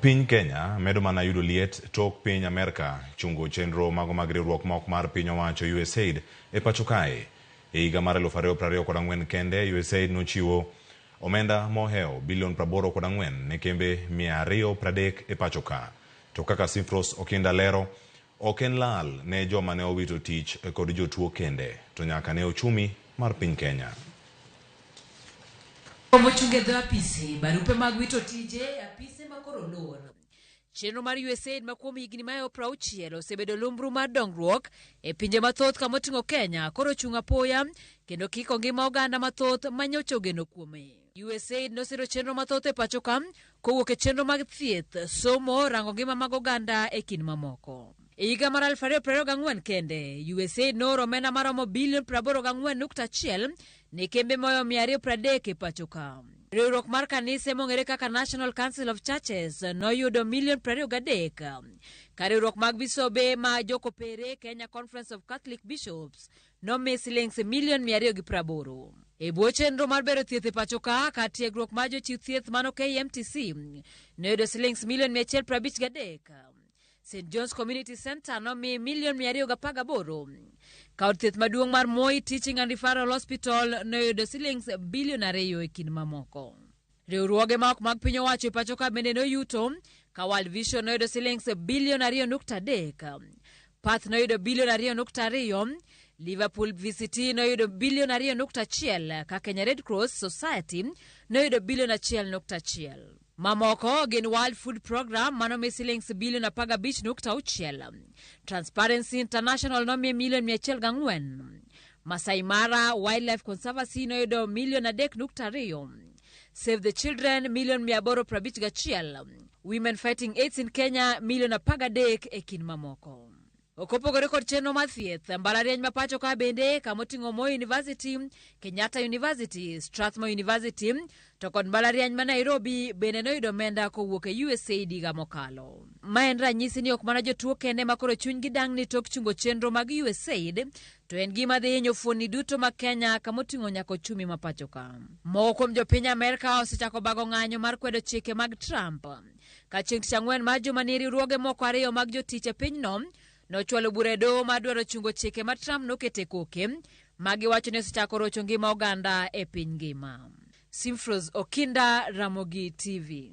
Piny Kenya medo mana yudo liet tok piny Amerka chungo chenro mago mag riwruok ma ok mar piny owacho USAID e pacho kae. E higa mar 2024 kende, USAID nochiwo omenda mohewo bilion 84 ne kembe 230 e pacho ka. To kaka Simfros Okinda lero, ok en lal ne joma ne owito tich kod jotuo kende, to nyaka ne ochumi mar piny Kenya. Romo chung' e dho apisi, barupe mag wito tije e apise ma koro luwono. Chenro mar USAID ma kuom higni mayo prauchiel osebedo lumbru mar dongruok e pinje mathoth kama oting'o Kenya koro ochung' apoya kendo kiko ngima oganda mathoth ma nyocha ogeno kuome. USAID nosiro chenro mathoth e pachoka kowuok e chenro mag thieth, somo, rango ngima mag oganda e kind mamoko. E higa mar 2024 kende, USAID nooro omenda maromo bilion 84.1 ne kembe moyo 230 e pachoka. Riwruok mar kanise mong'ere kaka National Council of Churches noyudo milion 23, ka riwruok mag bisobe ma jokopere Kenya Conference of Catholic Bishops nomi siling milion mia ariyo gi praboro. E bwo chenro mar bero thieth e pacho ka, kar tiegruok mar jochiw thieth mano KMTC noyudo siling milion mia achiel prabich gadek. St John's Community Center nomi milion mia ariyo gapar gaboro. Ka od thieth maduong' mar Moi Teaching and Referral Hospital noyudo siling bilion ariyo e kind mamoko. Riwruoge ma ok mag piny owacho e pacho ka bende noyuto ka World Vision noyudo silings bilion 2.3, Path noyudo bilion 2.2, Liverpool VCT noyudo bilion 2.1 ka Kenya Red Cross Society noyudo bilion 1.1. Mamoko gin World Food Program manomi silings bilion 15.6, Transparency International nomiye milion 104, Masai Mara Wildlife Conservancy noyudo milion 3.2, Save the Children milion 851, Women Fighting AIDS in Kenya milion 13 e kind mamoko. Kopogore kod chenro mar thieth, mbalariany ma pacho ka bende kama oting'o Moi University, Kenyatta University, Strathmore University, To kod mbalariany ma Nairobi bende noyudo omenda kowuok e USAID higa mokalo. Ma en ranyisi ni ok mana jotuo kende ma koro chunygi dang'ni tok chungo chenro mag USAID, to en gima dhi hinyo fuonni duto ma Kenya kama oting'o nyaka ochumi ma pachoka. Moko kuom jopiny Amerka osechako bago ng'anyo mar kwedo chike mag Trump ka chieng' tich ang'wen mar jumani riwruoge moko ariyo mag jotich e pinyno nochwalo bura e doho mar dwaro chungo chike ma Trump nokete koke ma giwacho ni osechako rocho ngima oganda e piny ngima. Simfros Okinda, Ramogi TV.